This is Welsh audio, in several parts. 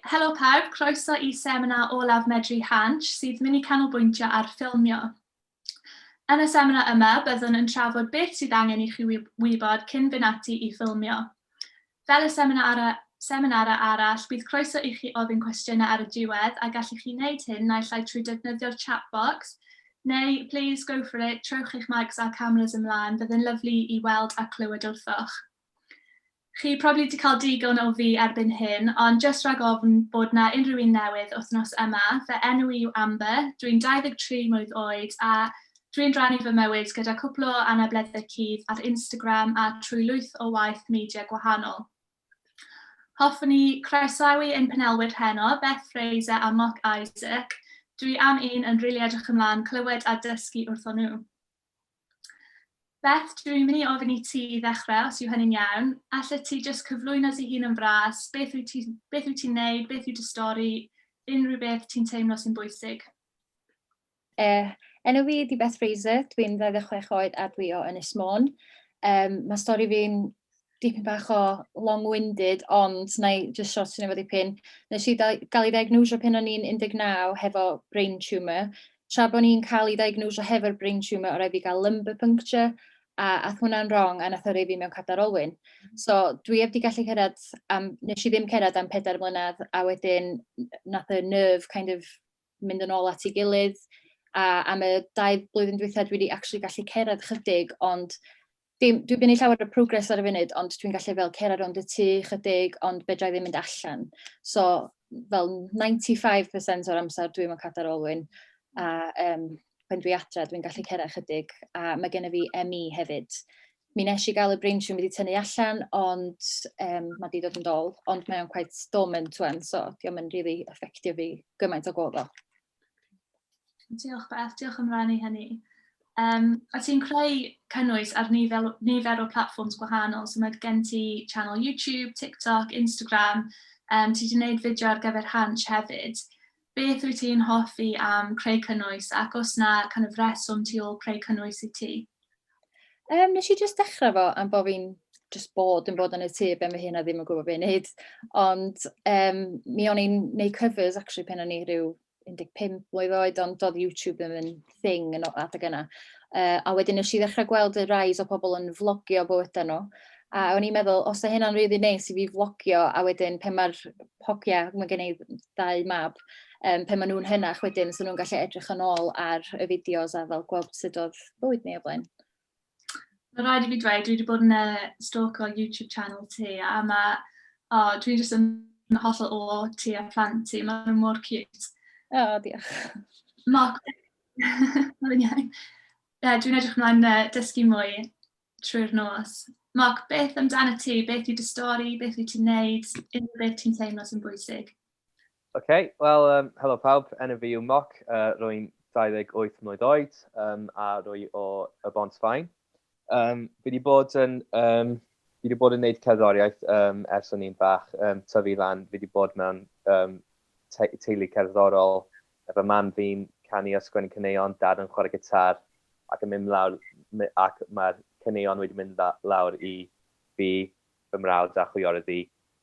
Helo pawb, croeso i seminar olaf Medru Hansh sydd mynd i canolbwyntio ar ffilmio. Yn y seminar yma, byddwn yn trafod beth sydd angen i chi wybod cyn fynd ati i ffilmio. Fel y seminarau, seminarau arall, bydd croeso i chi ofyn cwestiynau ar y diwedd a gallwch chi wneud hyn naill ai trwy defnyddio'r chat box neu, please go for it, trowch eich mics a'r cameras ymlaen, bydd yn lyflu i weld a clywed wrthoch. Chi probably 'di cael digon o fi erbyn hyn, ond jyst rhag ofn bod 'na unrhyw un newydd wythnos yma, fy enw i yw Amber, dwi'n 23 mlwydd oed a dwi'n rhannu fy mywyd gyda cwpl o anableddau cudd ar Instagram a trwy lwyth o waith media gwahanol. Hoffwn i croesawu ein panelwyr heno, Beth Fraser a Mark Isaac. Dwi am un yn rili edrych ymlaen clywed a dysgu wrthon nhw. Beth, dwi'n mynd i ofyn i ti i ddechrau, os yw hynny'n iawn. Allet ti jyst cyflwyno dy hun yn fras, beth wyt ti'n beth wyt ti'n neud, beth yw dy stori, unrhyw beth ti'n teimlo sy'n bwysig? Uh, enw fi ydi Beth Fraser, dwi'n 26 oed a dwi o Ynys Môn. Um, mae stori fi'n dipyn bach o long-winded, ond na i just short yn efo dipyn. Nes i gael ei ddiagnosio pen o'n i'n 19 hefo brain tumour. Tra bod ni'n cael ei ddiagnosio hefo'r brain tumour, oedd fi gael lumbar puncture, a ath hwnna'n wrong, a nath yrru fi mewn cadar olwyn. Mm. So, dwi heb di gallu cyrraedd, am, nes i ddim cyrraedd am pedair mlynedd, a wedyn nath y nerve kind of mynd yn ôl at ei gilydd, a am y dau blwyddyn dwythau dwi wedi actually gallu cyrraedd chydig, ond Dwi'n dwi yn ei llawer o progres ar y funud, ond dwi'n gallu fel cer ar ond y tu chydig, ond be drai ddim mynd allan. So, fel 95% o'r amser dwi'n mynd cadair olwyn, a um, pan dwi adre dwi'n gallu cer ar chydig, a mae gen i fi ME hefyd. Mi nes i gael y brain siwm wedi tynnu allan, ond um, mae wedi dod yn dol, ond mae o'n quite dormant twan, so diolch yn rili really effeithio fi gymaint o gof Diolch Beth, diolch am rannu hynny. Um, a ti'n creu cynnwys ar nifer, nifer o platforms gwahanol, so mae gen ti channel YouTube, TikTok, Instagram, um, ti wedi gwneud fideo ar gyfer Hanch hefyd. Beth wyt ti'n hoffi am creu cynnwys ac os na kind of reswm ti ôl creu cynnwys i ti? Um, nes i jyst dechrau fo am bod fi'n just bod yn bod yn y tŷ be mae hyn a ddim yn gwybod beth i'n neud. Ond um, mi o'n i'n neud covers actually pen o'n i rhyw 15 mlynedd oed, ond doedd YouTube ddim yn thing yn adeg yna. Uh, a wedyn nes i ddechrau gweld y rais o pobl yn vlogio bywydau nhw. A o'n i'n meddwl, os da hynna'n rili really neis i fi vlogio, a wedyn pe mae'r hogia, mae gen i ddau mab, um, pe maen nhw'n hynach wedyn, so nhw'n gallu edrych yn ôl ar y fideos a fel gweld sut oedd bywyd ni o blaen. Mae'n rhaid i fi dweud, dwi wedi bod yn uh, stalk o YouTube channel ti, a mae, oh, dwi'n jyst yn hollol o ti a plant ti, mae nhw mor cute. O, oh, diolch. Mark, mae'n iawn. Yeah, dwi'n edrych ymlaen uh, dysgu mwy trwy'r nos. Mark, beth amdano ti? Beth yw dy stori? Beth wyt ti'n neud? Unrhyw beth ti'n teimlo sy'n bwysig? OK, wel, um, helo pawb, enw fi yw Moc, uh, rwy'n 28 mlynedd oed um, a rwy o y Bont Fain. Um, fi wedi bod yn, um, fi wedi bod yn gwneud cerddoriaeth um, ers o'n i'n fach, um, tyfu lan, fi wedi bod mewn um, te teulu cerddorol, efo mam fi'n canu a sgwennu cyneuon, dad yn chwarae gitar, ac yn mynd lawr, ac mae'r cyneuon wedi mynd lawr i fi, fy mrawd a chwiorydd i.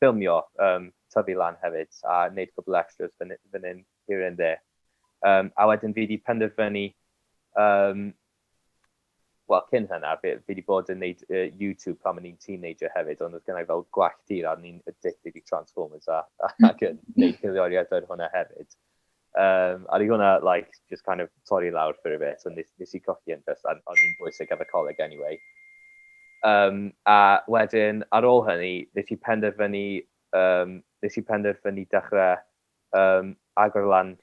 ffilmio, yym, tyfu lan hefyd a neud cwpl o extras fyn fyn 'yn here and there. Yym, a wedyn fi 'di penderfynu, yym, wel cyn hynna fi fi 'di bod yn neud yy YouTube pan o'n i'n teenager hefyd ond oedd gynna i fel gwallt tir a o'n i'n addicted i Transformers a ac yn neud peirioriaid ar hwnna hefyd. Um, a di hwnna, like, just kind of torri lawr for a bit, so nes, nes i cochi yn just, ond ni'n bwysig ar y coleg anyway. Um, a wedyn, ar ôl hynny, nes i penderfynu, um, nes i penderfynu dechrau um, agor lan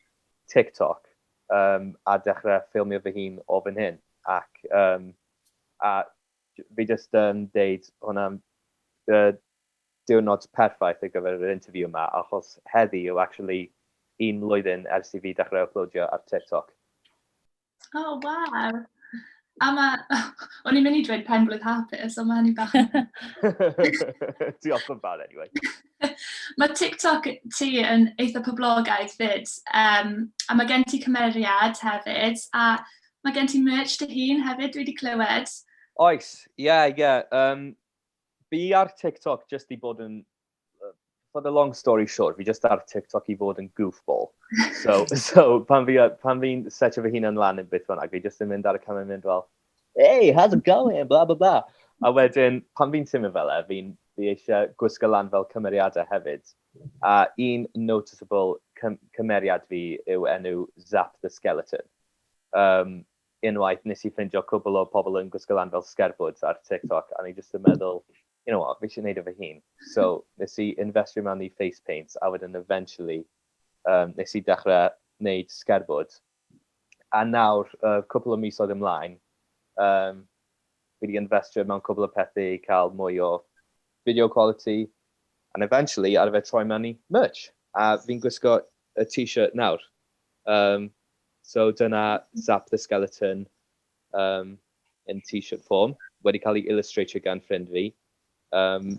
TikTok um, a dechrau ffilmio fy hun o fy hyn. Ac um, a fi just yn um, deud hwnna, uh, diwrnod perffaith ar gyfer yr interview yma achos heddi yw actually un mlwyddyn ers i fi dechrau uploadio ar TikTok. O, oh, waw! A mae... O'n i'n mynd i dweud pen blwydd hapus, ond mae hynny bach... Diolch yn fawr, anyway. mae TikTok ti yn eitha poblogaidd fyd, um, a mae gen ti cymeriad hefyd, a mae gen ti merch dy hun hefyd, dwi wedi clywed. Oes, ie, yeah, ie. Yeah. Um, fi ar TikTok jyst i bod yn... For the long story short, fi jyst ar TikTok i fod yn goofball. So, so pan fi'n fi, pan fi setio fy hun yn lan yn beth bynnag, fi jyst yn mynd ar y camau yn mynd fel, hey, how's it going, bla bla bla. A wedyn, pan fi'n teimlo fel e, fi'n fi eisiau gwisgo lan fel cymeriadau hefyd. A un noticeable cym cymeriad fi yw enw Zap the Skeleton. Um, unwaith nes i ffindio cwbl o pobl yn gwisgo lan fel sgerbwd ar TikTok a o'n i jyst yn meddwl you know what, fi eisiau gwneud e fy hun. So nes i infestio mewn i face paint a wedyn eventually yym nes i dechrau wneud sgerbwd a nawr yy cwpl o misoedd ymlaen yym fi 'di infestio mewn cwbl o pethau i cael mwy o video quality and eventually ar y fe troi mewn i merch a fi'n gwisgo y t-shirt nawr Yym so dyna Zap the Skeleton yym yn t-shirt form wedi cael ei illustratio gan ffrind fi yym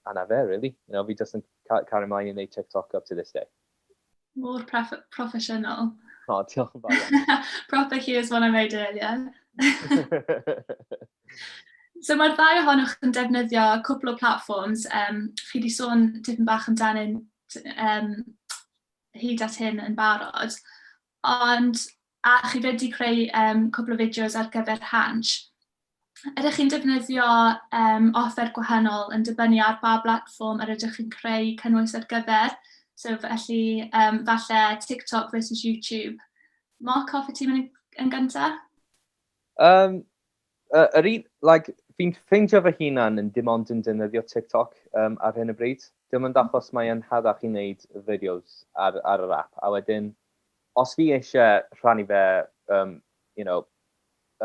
a 'na fe rili. You know fi jyst yn ca- cario mlaen i wneud TikTok up to this day. Mor proff- proffesiynol. O diolch yn fawr iawn. Proper here's what I made earlier. So mae'r ddau ohonoch yn defnyddio cwpl o platforms, um, chi wedi sôn tipyn bach amdanyn um, hyd at hyn yn barod, ond a chi wedi creu um, cwbl o fideos ar gyfer Hanch. Ydych chi'n defnyddio um, offer gwahanol yn dibynnu ar ba blatfform yr ydych chi'n creu cynnwys ar gyfer, so felly um, falle TikTok versus YouTube. Mark, off y ti yn gyntaf? Um, Yy yr un like fi'n ffeindio fy hunan yn dim ond yn defnyddio TikTok yym ar hyn o bryd. Dim ond achos mae e'n rhatach i wneud y fideos ar ar yr ap a wedyn os fi eisie rhannu fe yym you know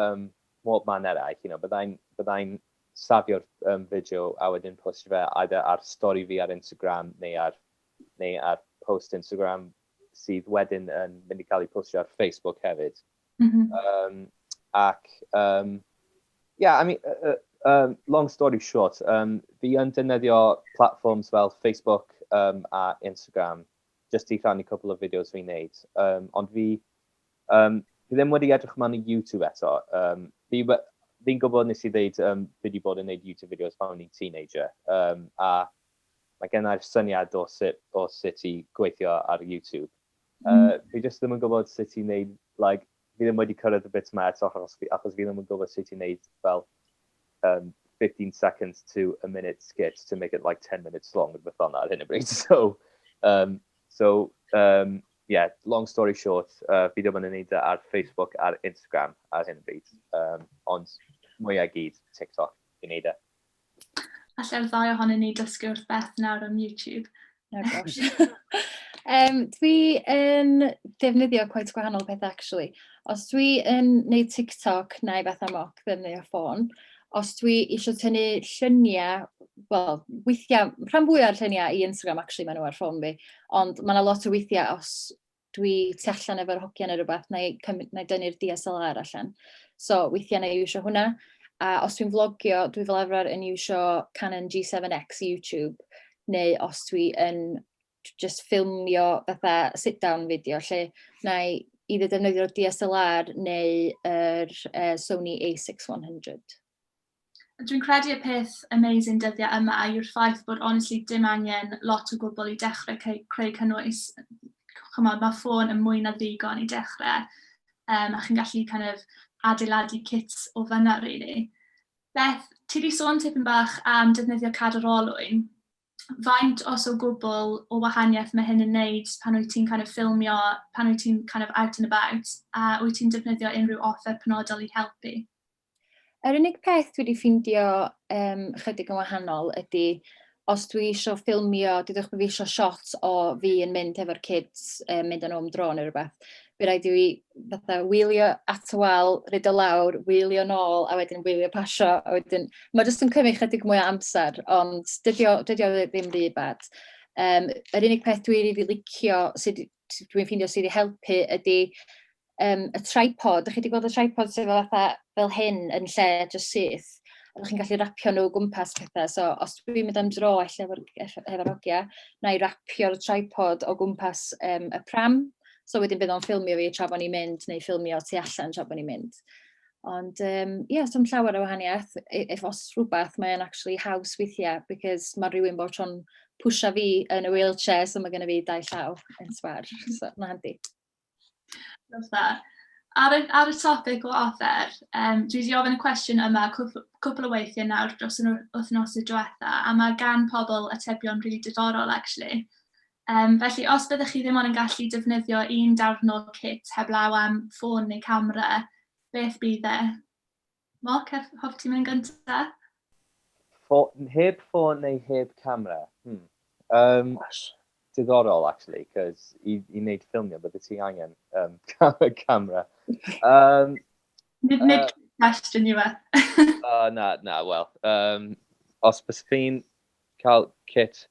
yym mhob man eraill you know byddai'n byddai'n safio'r yym fideo a wedyn postio fe either ar stori fi ar Instagram neu ar neu ar post Instagram sydd wedyn yn mynd i cael ei postio ar Facebook hefyd. Mm -hmm. um, ac, um, yeah, I mean, uh, um, long story short, um, fi yn defnyddio platforms fel Facebook um, a Instagram, just i rhannu cwbl o fideos fi'n neud. Um, ond fi, um, fi ddim wedi edrych yma i YouTube eto. Um, fi, fi'n gwybod nes i ddeud um, fi wedi bod yn neud YouTube videos pan o'n i'n teenager. Um, a mae gennau'r syniad o sut, o sut i gweithio ar YouTube. Uh, fi jyst ddim yn gwybod sut i wneud, like, fi ddim wedi cyrraedd y bit yma eto achos fi, achos fi ddim yn gwybod sut i wneud fel um, 15 seconds to a minute skit to make it like 10 minutes long rhywbeth fel ar hyn o bryd. So, um, so um, yeah, long story short, uh, fi ddim yn wneud e ar Facebook a'r Instagram ar hyn o bryd, um, ond mwy ag gyd TikTok i wneud e. Allai'r ddau ohonyn ni dysgu wrth Beth nawr am YouTube. Oh gosh. um, dwi yn defnyddio quite gwahanol peth actually. Os dwi yn neud TikTok neu beth am oc ddefnyddio ffôn, os dwi eisiau tynnu lluniau, wel, weithiau, rhan fwy o'r lluniau i Instagram actually maen nhw ar ffôn fi, ond mae yna lot o weithiau os dwi tu allan efo'r hogiau neu rhywbeth, na i, na i dynnu'r DSLR allan. So, weithiau na i iwsio hwnna. A os dwi'n vlogio, dwi fel arfer yn iwsio Canon G7X i YouTube, neu os dwi yn just ffilmio fatha sit-down fideo, lle na i either defnyddio'r DSLR neu yr uh, Sony a6 100. Dwi'n credu y peth amazing dyddiau yma yw'r ffaith bod honestly dim angen lot o gwbl i dechrau ceu- creu cynnwys. Chimod, ma' ffôn yn mwy na ddigon i dechrau, yym, a chi'n gallu kind of adeiladu kit o fan'na rili. Beth, ti 'di sôn tipyn bach am defnyddio cadw'r olwyn. Faint, os o gwbl, o wahaniaeth mae hyn yn wneud pan wyt ti'n kind of ffilmio, pan wyt ti'n kind of out and about, a wyt ti'n defnyddio unrhyw offer penodol i helpu? Yr unig peth dwi 'di ffindio um, chydig yn wahanol ydy os dwi isio ffilmio, dydwch bod fi isio shot o fi yn mynd hefo'r kids, um, mynd yn ôl dro neu rhywbeth, bydd rhaid i fi fatha wylio at y wal, ryd o lawr, wylio nôl, a wedyn wylio pasio, a wedyn... Mae jyst yn cymryd chydig mwy o amser, ond dydio, dydio ddim rhy bad. Um, yr unig peth dwi rili licio sydd dwi'n ffeindio sydd wedi helpu ydy um, y tripod. Ydych chi wedi gweld y tripod sydd fel, fatha, fel hyn yn lle just syth? Ydych chi'n gallu rapio nhw gwmpas pethau. So, os dwi'n mynd am dro efo, efo, efo rogia, na i rapio'r tripod o gwmpas um, y pram. So wedyn bydd o'n ffilmio fi tra bod ni'n mynd, neu ffilmio tu allan tra bod ni'n mynd. Ond um, yeah, dim llawer o wahaniaeth. If os rhywbeth, mae'n actually haws weithiau, because mae rhywun bod tro'n pwysio fi yn y wheelchair, so mae gen i fi dau llaw yn sbar. So, mae'n handi. Ar y, ar y topic o offer, um, dwi wedi ofyn y cwestiwn yma cwpl o weithiau nawr dros yr wythnos y diwetha, a mae gan pobl atebion rili really diddorol, actually. Yym, felly os byddech chi ddim ond yn gallu defnyddio un darn o'r cit heblaw am ffôn neu camera, beth bydd e? Mark, hoff- hoffet ti mynd yn gynta? Ffo- heb ffôn neu heb camera? Hmm. Um, Gosh. diddorol, actually, cos i, i wneud ffilmio, bydde ti angen um, camera. Um, Nid nid uh, question yw e. uh, na, na, wel. Um, os bys chi'n cael kit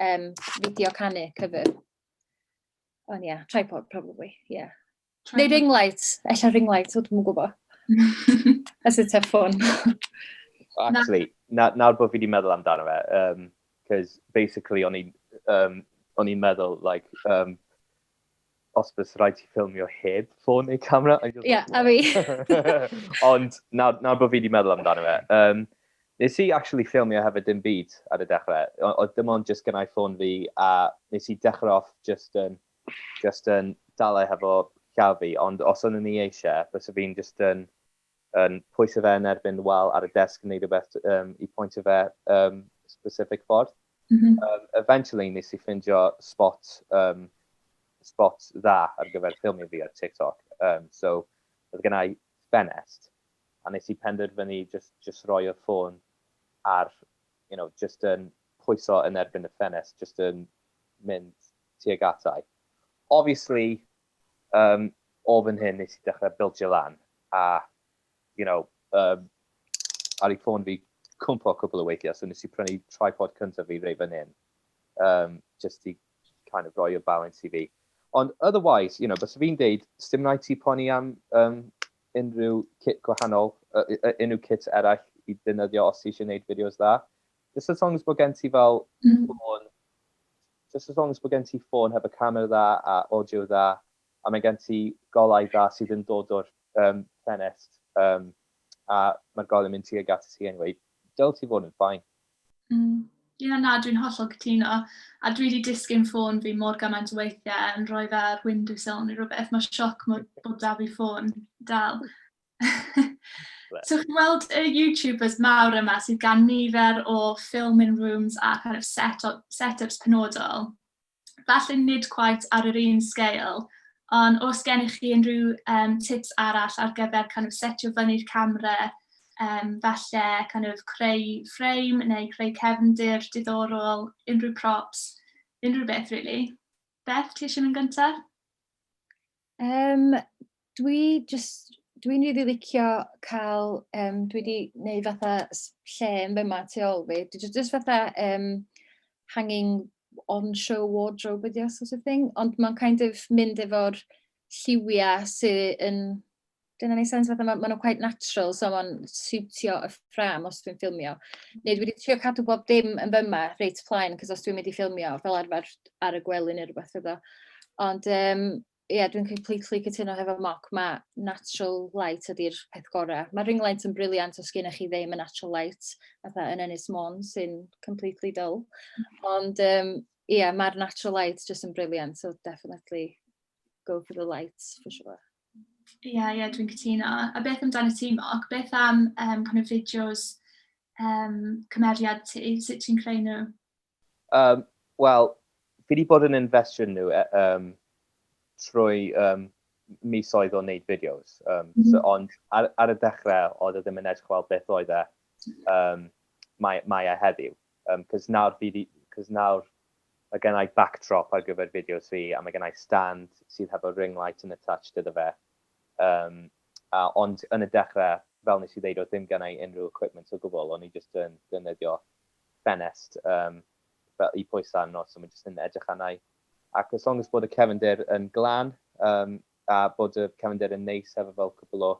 um, fideo canu, cyfr. Ond oh, ie, yeah, tripod, probably, ie. Yeah. Neu ring light, ella ring light, o dwi'n gwybod. As a tough one. Actually, nawr na bod fi wedi meddwl amdano fe, um, cos basically o'n i'n um, o'n i'n meddwl, like, um, os bydd rhaid ti ffilmio heb ffôn neu camera. Ie, yeah, a fi. Ond nawr, nawr bod fi wedi meddwl amdano fe, um, nes i actually ffilmio hefyd dim byd ar y dechrau. Oedd dim ond just gynnau ffôn fi a nes i dechrau off just yn, just yn dalau hefo llaw fi. Ond os o'n ni eisiau, bys fi'n just yn yn pwyso fe yn erbyn wal ar y desg yn neud rhywbeth um, i pwyntio fe um, specific ffordd. Mm -hmm. um, eventually nes i ffindio spot, um, spot dda ar gyfer ffilmio fi ar TikTok. Um, so, oedd gen i ffenest, a nes i penderfynu just, just roi y ffôn ar, you know, just yn pwyso yn erbyn y ffenest, just yn mynd tuag atai. Obviously, Yym, o fan hyn nes i dechrau bildio lan, a, you know, um, ar ei ffôn fi cwmpo cwbl o weithiau, so nes i prynu tripod cyntaf fi rei fan hyn, um, just i kind of roi y balance i fi. Ond otherwise, you know, bys fi'n deud, sdim rhaid ti poni am um, unrhyw kit gwahanol, uh, uh, unrhyw kit eraill i ddynyddio os ti eisiau gwneud fideos dda. Just as long as bod gen ti fel mm. Just as long as bod gen ti ffôn hefo camera dda a audio dda a mae gen ti golau dda sydd yn dod o'r yym ffenest yym a mae'r golau yn mynd tuag at ti anyway, dyle ti fod yn fine. Mm ie na dwi'n hollol cytuno a dwi 'di disgyn ffôn fi mor gymaint o weithie yn rhoi fe ar windowsill neu rwbeth ma' sioc mor bod 'da fi ffôn dal. so chi'n gweld y YouTubers mawr yma sydd gan nifer o filming rooms a kind of set up, set-ups penodol. Falle nid quite ar yr un sgeil, ond os gennych chi unrhyw um, tips arall ar gyfer kind of setio fyny'r camera, um, falle kind of creu frame neu creu cefndir diddorol, unrhyw props, unrhyw beth really. Beth, ti eisiau mynd gyntaf? Yym, dwi jyst... Dwi'n rili licio cael... yym dwi 'di wneud fatha s- lle yn fama tu ôl fi. Dwi jyst jyst fatha yym hanging on-show wardrobe ydi o sort of thing, ond mae'n kind of mynd efo'r lliwiau sy yn Dyna ni sens fatha, maen nhw'n quite natural, so maen siwtio y ffram os dwi'n ffilmio. Neu dwi wedi trio cadw bob dim yn fyma, reit plaen, cos os dwi'n mynd i ffilmio fel arfer ar y gwely neu rhywbeth fyddo. Ond um, ie, yeah, dwi'n completely cytuno hefo moc, mae natural light ydy'r peth gorau. Mae ring light yn briliant os gennych chi ddim y natural light, fatha yn Ynys Môn sy'n completely dull. Mm. Ond ie, um, yeah, mae'r natural light jyst yn briliant, so definitely go for the light for sure. Ie, ie dwi'n cytuno. A beth amdano ti Mark? Beth am yym kind of fideos yym cymeriad ti? Sut ti'n creu nhw? Um, Wel, fi wedi bod yn investio nhw e, um, trwy um, misoedd o wneud fideos. Um, mm -hmm. so, ond ar, ar y dechrau, oedd e ddim yn edrych fel beth oedd e um, mae, mae e heddiw. Yym, cos nawr fi 'di, cos nawr mae gennai backdrop ar gyfer fideos fi, a mae gennai stand sydd hefo ring light yn attached iddo fe. Yym, a, ond yn y dechrau, fel nes i ddeud, oedd ddim gennai unrhyw equipment o gwbl, o'n i jyst yn defnyddio ffenest yym fel i pwyso arno, so mae jyst yn edrych arna i. Ac as long as bod y cefndir yn glân, yym, a bod y cefnder yn neis efo fel cwpl o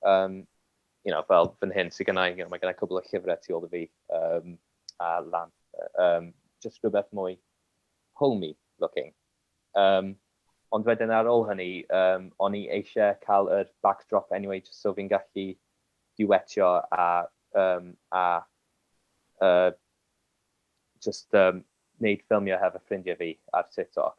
yym you know fel fan hyn sydd gynna i, mae gynna i cwpl o llyfrau tu ôl i fi um, a lan, um, just rhywbeth mwy homey looking. Um, ond wedyn ar ôl hynny, um, o'n i eisiau cael yr backdrop anyway, just so fi'n gallu diwetio a, um, a uh, just um, wneud ffilmio hefo ffrindiau fi ar TikTok.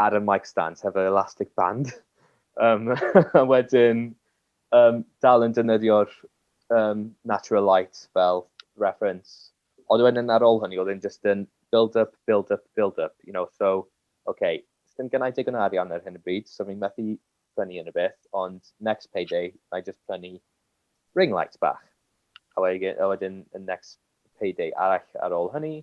ar y mic stands hefo'r elastic band um, a wedyn um, dal yn dynyddio'r um, natural light fel reference. Ond wedyn ar ôl hynny, oedd yn just yn build up, build up, build up, you know, so, okay, sy'n gynnau digon arian ar hyn y bryd, so fi'n methu prynu yn y beth, ond next payday, I just prynu ring light bach. A wedyn, a wedyn y next payday arall ar ôl hynny,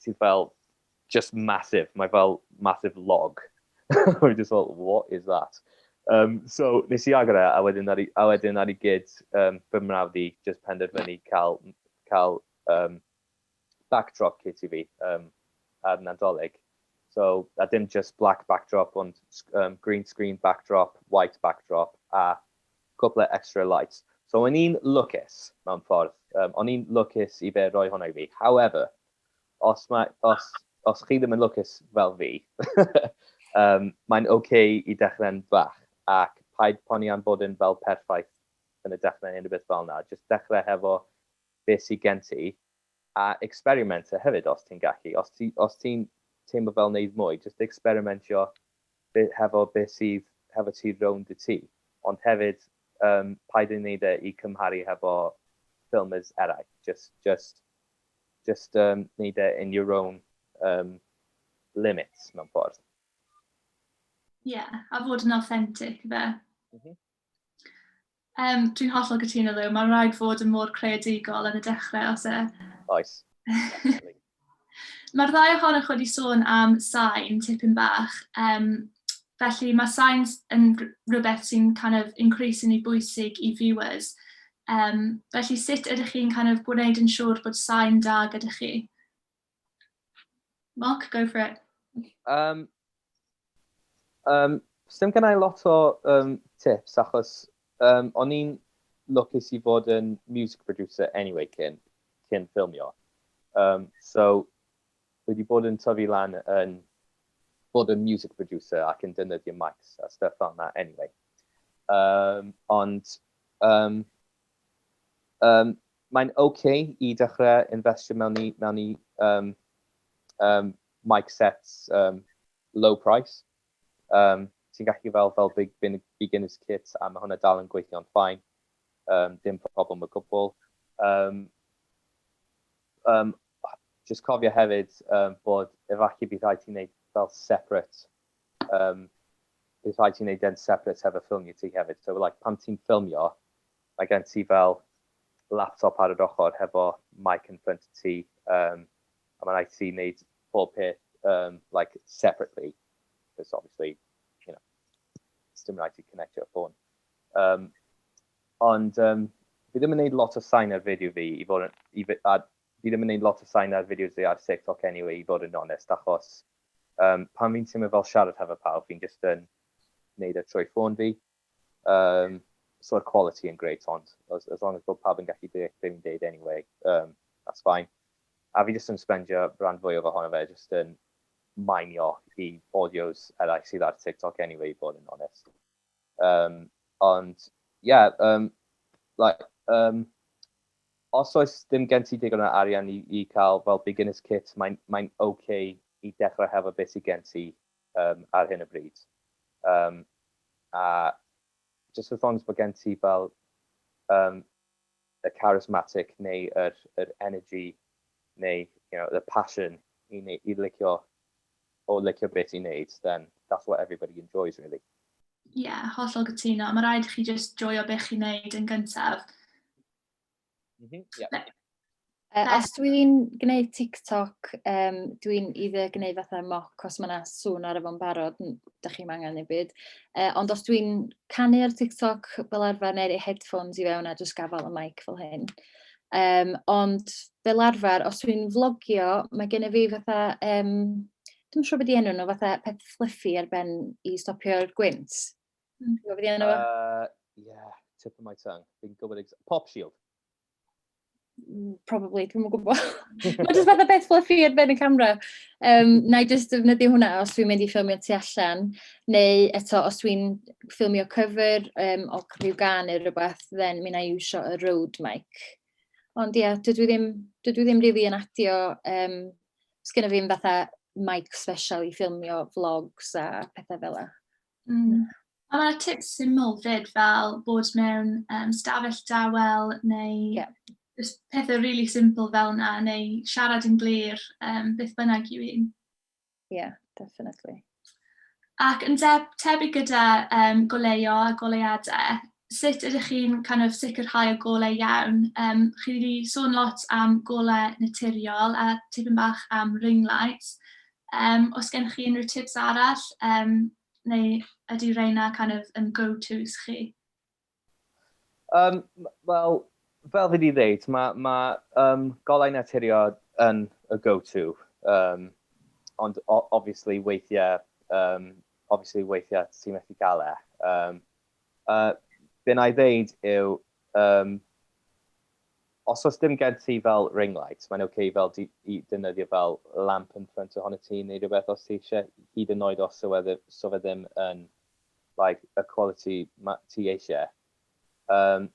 sydd fel just massive. Mae fel massive log. Mae'n just fel, what is that? Um, so, nes i agor e, a wedyn ar i, a wedyn ar i gyd, um, fy mrawd i, just penderfynu cael, cael um, backdrop kit i fi um, ar Nadolig. So, a dim just black backdrop, ond um, green screen backdrop, white backdrop, a Cwple extra lights. So o'n i'n lwcus mewn ffordd, yym o'n i'n lwcus i fe roi hwnna i fi. However, os mae, os, os chi ddim yn lwcus fel fi, yym mae'n ok i dechrau'n fach ac paid poni am bod yn fel perffaith yn y dechrau neu unrhyw beth fel 'na, jyst dechrau hefo be sy gen ti. a experimenter hefyd os ti'n gallu, os ti os ti'n teimlo fel neud mwy jyst experimentio be- hefo be' sydd hefo ti rownd y tŷ ond hefyd yym paid â neud e i cymharu hefo filmers eraill jyst jyst jyst yym neud e in your own yym limits mewn ffordd. Ie a fod yn authentic ife? M-hm. Um, dwi'n hollol gytuno ddo, mae'n rhaid fod yn mor creadigol yn y dechrau os e. Oes. Mae'r ddau ohonoch wedi sôn am sain tipyn bach, um, felly mae sain yn rhywbeth sy'n kind of increasingly bwysig i viewers. Um, felly sut ydych chi'n kind of gwneud yn siŵr bod sain da gyda chi? Mark, go for it. Um, um, Sdim gen i lot o um, tips achos um, o'n i'n lwcus i fod yn music producer anyway cyn, cyn ffilmio. Um, so, wedi bod yn tyfu lan yn bod yn music producer ac yn dynyddio mics a stuff fel yna anyway. Um, ond, um, um, Mae'n ok i dechrau infestio mewn i mewn i um, um, mic sets um, low price. Um, ti'n gallu fel fel big beginners kit a mae hwnna dal yn gweithio'n ffain. Um, dim problem o gwbl. Um, um, just cofio hefyd um, bod efallai bydd rhaid ti'n gwneud fel separate um, bydd rhaid ti'n gwneud yn separate hefo ffilmio ti hefyd. So like, pan ti'n ffilmio, Mae gen ti fel laptop ar yr ochr hefo mic yn ffrynt ti um, a mae'n rhaid ti wneud pob peth um, like separately because obviously you know it's dim rhaid ti connectio ffôn um, ond um, fi ddim yn gwneud lot o sain ar fideo fi i fod yn, i, a fi ddim yn gwneud lot o sain ar fideos fi ar TikTok anyway i fod yn onest achos um, pan fi'n teimlo fel siarad hefo pawb fi'n just yn wneud e trwy ffôn fi Um, so mae'r quality yn great ond, as, as long as bod pawb yn gallu deall beth fi'n deud anyway, um, that's fine. A fi jyst yn spendio rhan fwy o fy honno fe, jyst yn mainio i audios eraill sydd ar TikTok anyway, bod yn honest. Um, ond, yeah, um, like, um, os oes ddim gen ti digon o arian i, i cael fel beginner's kit, mae'n mae, okay i dechrau hefo beth sydd gen ti. um, ar hyn o bryd. Um, a just wrth ond bod gen ti fel um, y charismatic neu yr, yr energy neu you know, the passion i, neu, i licio o licio beth i'n neud, then that's what everybody enjoys really. Ie, yeah, hollol gytuno. Mae rhaid i chi just joio beth chi'n neud yn gyntaf. Mm -hmm. yeah. Na. Uh, os dwi'n gwneud TikTok, um, dwi'n either gwneud fatha moc, os mae yna sŵn ar efo'n barod, da chi'n angen ei byd. Uh, ond os dwi'n canu ar TikTok fel arfer neu'r headphones i fewn a jyst gafael y mic fel hyn. Um, ond fel arfer, os dwi'n vlogio, mae gen i fi fatha, um, dwi'n siŵr beth i enw nhw, fatha peth fluffy ar ben i stopio'r gwynt. Ti'n gwybod beth i enw? Uh, yeah, tip of my tongue. Fi'n gwybod ex... Pop Shield. Mm, probably, dwi'n mwyn gwybod. Mae jyst fath o beth fluffy ar ben y camera. Um, na i jyst defnyddio hwnna os dwi'n mynd i ffilmio tu allan, neu eto os dwi'n ffilmio cyfer um, o rhyw gan neu rhywbeth, then mi na i iwsio y road mic. Ond ie, yeah, dydw i ddim, dydw i ddim really yn adio, um, sgynna fi'n fatha mic special i ffilmio vlogs a pethau fel yna. Mm. A mae tips syml fyd fel bod mewn um, stafell dawel neu yeah. pethau rili really simple fel yna neu siarad yn glir um, beth bynnag yw un. Yeah, definitely. Ac yn deb, tebyg gyda um, goleuo a goleuadau, sut ydych chi'n kind of sicrhau y golau iawn? Um, chi wedi sôn lot am golau naturiol a tipyn bach am ring lights. Yym, oes gennych chi unrhyw tips arall, yym, neu ydy rheina kind of yn go-tos chi? Um, Wel, fel fi wedi dweud, mae ma, um, golau naturio yn y go-to. Um, ond obviously weithiau, um, obviously weithiau ti'n methu cael e. Um, uh, be na i ddeud yw, um, Os oes dim gen ti fel ring light, mae'n ok fel di i defnyddio fel lamp yn ffrynt ohonot ti neu rhywbeth os ti eisiau, hyd yn oed os yw e so fe ddim yn like y quality ma ti eisiau. Yym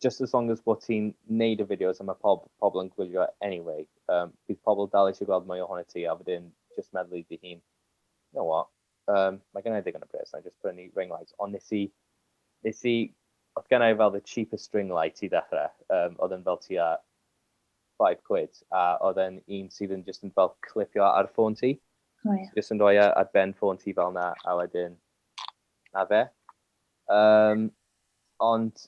just as long as bod ti'n neud y fideos a mae pob pobl yn gwylio anyway, yym bydd pobl dal eisiau gweld mwy ohonot ti a wedyn just meddwl i dy hun, you know what, Um, mae gen i ddigon o bres, na just prynu ring light, ond nes i, nes i, oedd gen i fel the cheapest ring light i ddechrau, um, oedd yn fel ti a 5 quid, a oedd e'n un sydd yn just yn fel clipio ar ffôn ti, oh, yeah. just yn rhoi e ar ben ffôn ti fel na, a wedyn, na fe. Um, ond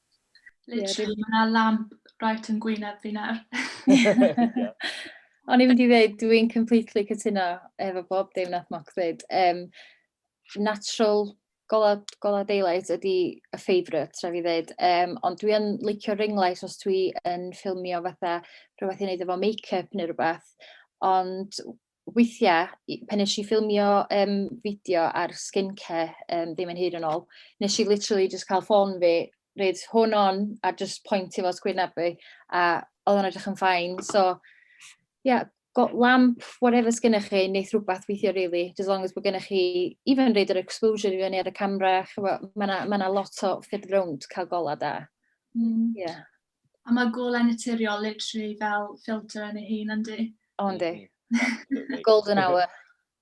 Literally, mae yna lamp right yn gwyneb fi nawr. O'n i'n mynd i ddweud, dwi'n completely cytuno efo bob dim nath Moc ddweud. Um, natural gola, gola daylight ydy y favourite, tra fi ddweud. Um, ond dwi'n licio ring light os dwi yn ffilmio fatha rhywbeth i wneud efo make-up neu rhywbeth. Ond weithiau, pan nes i ffilmio um, fideo ar skincare um, ddim yn hyd yn ôl, nes i literally just cael ffôn fi, reid hwn on a just point i fo sgwyn abu, a oedd o'n edrych yn ffain. So, yeah, got lamp, whatever sgynnych chi, neith rhywbeth weithio really, as long as bod gennych chi, even reid yr exposure i fyny ar y camera, mae yna ma lot o ffyrdd rownd cael gola da. Mm. Yeah. A mae golau naturiol literally fel filter yn ei hun, yndi? O, yndi. Mm-hmm. Golden hour.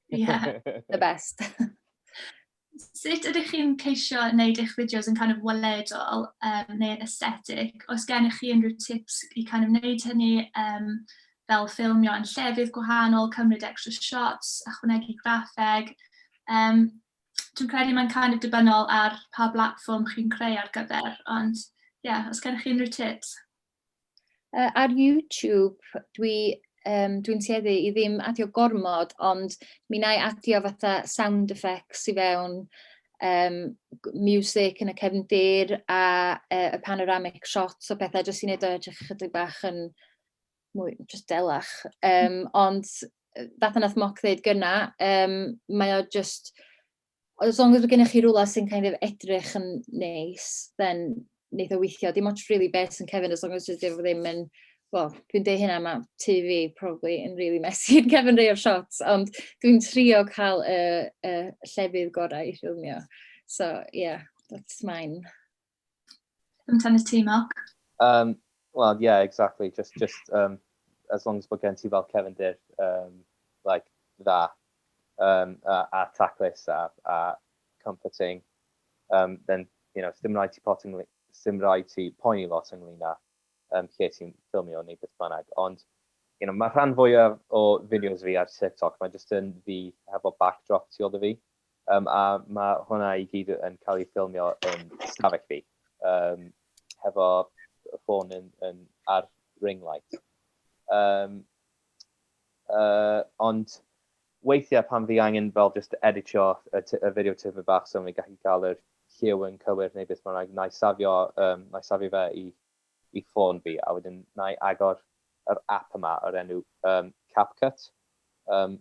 yeah. The best. Sut ydych chi'n ceisio wneud eich fideos yn kind of weledol um, neu yn aesthetic? Os gennych chi unrhyw tips i kind of wneud hynny um, fel ffilmio yn llefydd gwahanol, cymryd extra shots, ychwanegu graffeg, um, dwi'n credu mae'n kind of dibynol ar pa blatfform chi'n creu ar gyfer, ond ie, yeah, os gennych chi unrhyw tips? Uh, ar YouTube, dwi um, dwi'n tueddu i ddim adio gormod, ond mi na i adio fatha sound effects i fewn, um, music yn y cefndir a uh, y panoramic shots o bethau, jyst i'n edrych edrych chydig bach yn mwy, just delach. Um, ond fatha nath Moc ddeud gyna, um, mae o just, as long as mae gennych chi rhywle sy'n kind of edrych yn neis, then neith o weithio. Dim ots really beth sy'n cefn, as long as dydw ddim yn, well, dwi'n deud hynna, mae tu fi probably yn really messy yn cefn rei o'r shots, ond dwi'n trio cael y, y llefydd gorau i ffilmio. So, yeah, that's mine. Yn tan y ti, Mark? Um, Wel, yeah, exactly. Just, just um, as long as bod gen ti fel Kevin Dyr, um, like, dda, um, a, a taclus a, a comforting, um, then, you know, dim rhaid ti pot ynglyn, dim rhaid ti poeni lot ynglyn â um, lle ti'n ffilmio neu beth bynnag. Ond, you know, mae rhan fwyaf o fideos fi ar TikTok, mae jyst yn fi hefo backdrop tu ôl fi. Yym a ma' hwnna i gyd yn cael ei ffilmio yn stafell fi yym hefo y ffôn yn yn ar ring light. Yym yy ond weithiau pan fi angen fel jyst editio y t- y fideo tipyn bach so fi'n gallu cael yr lliw yn cywir neu beth bynnag, wna i safio yym wna i safio fe i i ffôn fi a wedyn wna i agor yr app yma o'r enw um, CapCut. Um,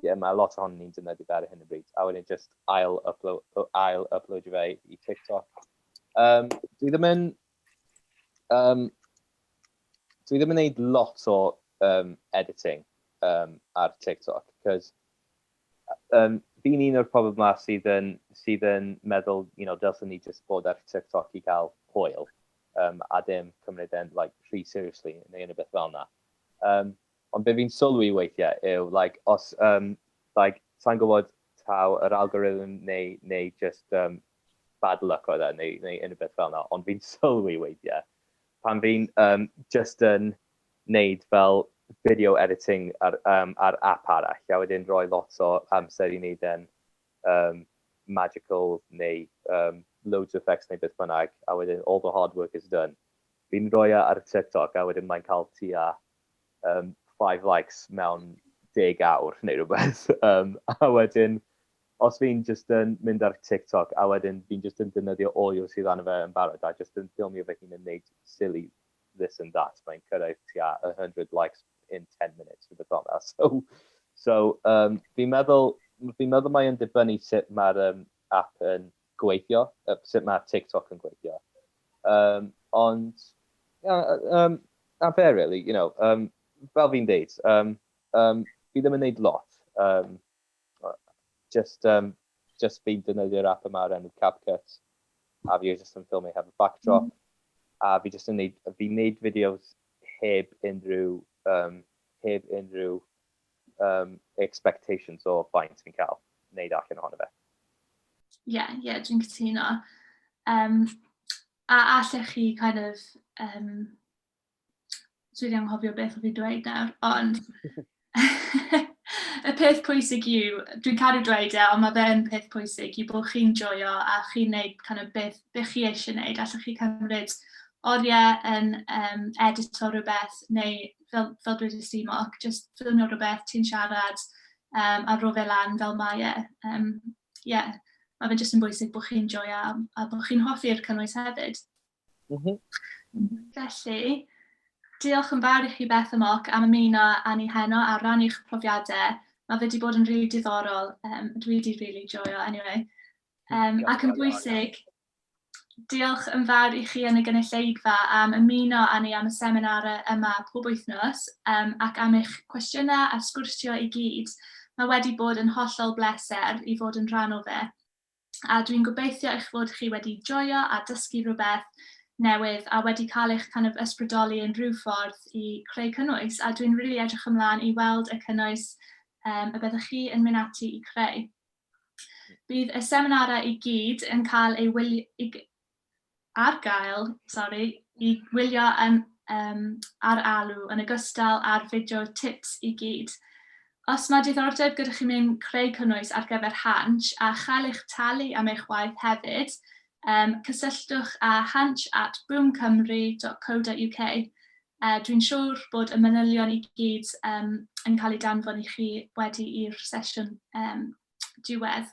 yeah, mae lot ohonyn ni'n defnyddio fe ar hyn o bryd, a wedyn just ail upload, ail upload fe i TikTok. Um, dwi ddim yn... Um, dwi ddim yn gwneud lot o um, editing um, ar TikTok, cos Yym fi'n un o'r pobl 'ma sydd yn sydd yn meddwl you know dylsen ni jyst bod ar TikTok i gael hwyl yym a dim cymryd e'n like rhy seriously neu unrhyw beth fel 'na. Yym ond be' fi'n sylwi weithie yw like os yym like sai'n gwbod taw yr algorithm neu neu jyst yym bad luck oedd e neu neu unrhyw beth fel 'na ond fi'n sylwi weithie pan fi'n yym jyst yn wneud fel video editing ar yym ar ap arall a wedyn rhoi lot o amser i wneud e'n yym magical neu yym loads o effects neu beth bynnag a wedyn all the hard work is done. Fi'n rhoi e ar TikTok a wedyn mae'n cael tua yym five likes mewn deg awr neu rhywbeth yym a wedyn os fi'n jyst yn mynd ar TikTok a wedyn fi'n jyst yn defnyddio audio sydd arno fe yn barod a jyst yn ffilmio fy hun yn wneud silly this and that, mae'n cyrraedd tua 100 likes in 10 minutes, rhywbeth fel yna. So, so um, fi'n meddwl, fi meddwl mae'n dibynnu sut mae'r um, app yn gweithio, uh, sut mae TikTok yn gweithio. Um, ond, yeah, um, a fe, really, you know, um, fel fi'n deud, um, um, fi ddim yn neud lot. Um, Jyst yym jyst fi'n defnyddio'r app yma o'r enw CapCut a fi jyst yn ffilmio heb y backdrop a fi jyst yn neud fi'n neud fideos heb unrhyw yym heb unrhyw yym expectations o faint fi'n cael neud allan ohono fe. Ie, yeah, ie, yeah, dwi'n cytuno. Um, a allech chi kind of um, Dwi'n anghofio beth o fi dweud nawr, ond y peth pwysig yw, dwi'n caru dweud e, ond mae fe'n peth pwysig yw bod chi'n joio a chi'n neud kind of, beth, beth chi eisiau neud. Allwch chi cymryd oriau yn um, edit o rhywbeth neu fel, fel dwi wedi simoc, just ffilmio rhywbeth, ti'n siarad um, a rho fe lan fel mae e. Um, yeah. Mae fe jyst yn bwysig bod chi'n joio a, a bod chi'n hoffi'r cynnwys hefyd. Mm -hmm. Felly, diolch yn fawr i chi Beth a Moc am ymuno â ni heno a rannu'ch profiadau. Mae wedi bod yn rili really diddorol. Um, dwi wedi rili really joio, anyway. Um, ac yn bwysig, diolch yn fawr i chi yn y gynulleidfa am ymuno â ni am y seminarau yma pob wythnos um, ac am eich cwestiynau a sgwrsio i gyd. Mae wedi bod yn hollol bleser i fod yn rhan o fe. a dwi'n gobeithio eich fod chi wedi joio a dysgu rhywbeth newydd a wedi cael eich kind of ysbrydoli yn rhyw ffordd i creu cynnwys a dwi'n rili really edrych ymlaen i weld y cynnwys um, y byddwch chi yn mynd ati i creu. Bydd y seminarau i gyd yn cael ei wylio, ar gael, sori, i wylio yn yym ar Alw yn ogystal â'r fideo tips i gyd. Os mae diddordeb gyda chi mewn creu cynnwys ar gyfer Hansh a chael eich talu am eich waith hefyd, yym cysylltwch â hansh at boomcymru.co.uk. Yy dwi'n siŵr bod y manylion i gyd yym yn cael eu danfon i chi wedi i'r sesiwn yym diwedd.